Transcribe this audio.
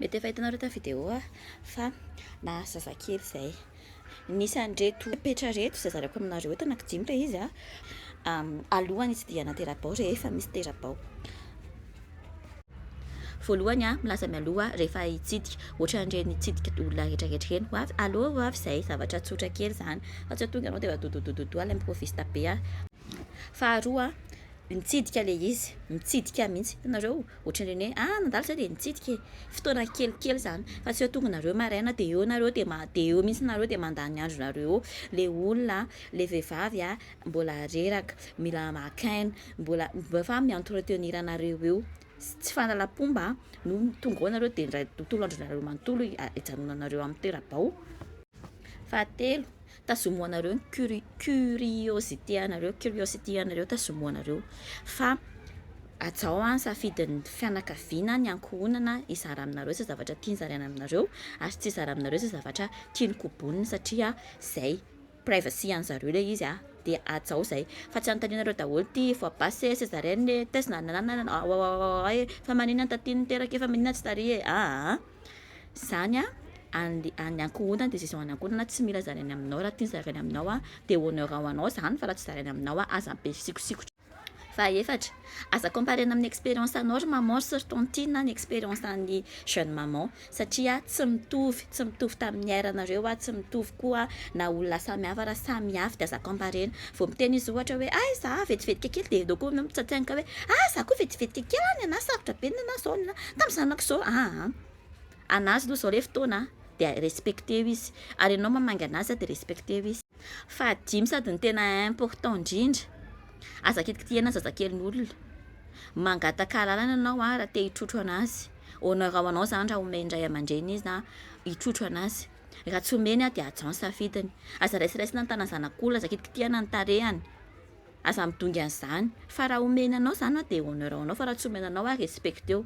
Mety efa hitanareo tamin'ny vidéo fa nahazo zazakely izay. Nisy an'ireto petra ireto izay zaraiko aminareo eto, anankidimy ilay izy. Alohan'ny hitsidihana tera-bao rehefa misy tera-bao. Voalohany, milaza mialoha rehefa hitsidika, ohatran'ireny hitsidika olona rehetra rehetra ireny, ho avy, allo ho avy izay, zavatra tsotra kely izany, fa tsy hoe tonga ianao dia dodododododo ilay improviste be. Faharoa, mitsidika ilay izy, mitsidika mihitsy, hitanareo. Ohatran'ny hoe ah nandalo zah dia nitsidika e! fotoana kelikely zany fa tsy hoe tonga nareo maraina dia eo nareo dia dia eo mihitsy nareo dia mandany ny andronareo eo, le olona an, le vehivavy an mbola reraka, mila maka aina, mbola efa mi entretenir anareo eo, tsy fanalam-pomba an, no tonga ao nareo dia indray tontolo andronareo manontolo hijanonanareo amin'ny toera-bao. Fahatelo, tazomoanareo ny curi curiosité anareo curiosity anareo tazomoanareo fa ajao an safidin'ny fianakaviana ny ankohonana hizara aminareo zay zavatra tiany zaraina aminareo ary tsy hizara aminareo zay zavatra tiany kobonina satria zay privacy any zareo le izy an de ajao zay fa tsy anontanianareo daholo ty voa basy e césarienne e test na na na na na aoaoaoa e fa maninona ny taty niteraka e fa maninona tsy tary e aa zany any ankohonany de zay zao any ankohonana tsy mila zaraina aminao raha tiany zaraina aminao de honneur ho anao zany fa raha tsy zaraina aminao aza be fisinkosikotra, fahefatra aza comparer-na amin'ny expérience anao ry maman sy ry tantine ny expérience an'ny jeune maman satria tsy mitovy, tsy mitovy tamin'ny niairanareo, tsy mitovy koa na olona samy hafa raha samy avy de aza comparer-na. Vao miteny izy ohatra hoe ay za vetivetika kely dia edaoko na mitsatsaingoka hoe ah za koa vetivetika kely ah ny anah sarotra be ny nenah zao ny tamin'ny zanako zao ah an anazy aloha zao le fotoana an dia respecter-o izy ary ianao mamangy anazy dia respecter-o izy fahadimy sady ny tena important indrindra aza kitikitihana zazakelin'olona mangataka alalana ianao ah raha te hitrotro anazy honneur-ao anao zany raha omen'ny ray aman-dreny izy na hitrotro anazy Raha tsy omeny aho dia hajao ny safidiny. Aza raisiraisina ny tanan'ny zanak'olona, aza kitikitihana ny tarehiny, aza midongy an'izany. Fa raha omeny anao izany an, dia honneur ho anao, fa raha tsy omeny anao an, respecteo.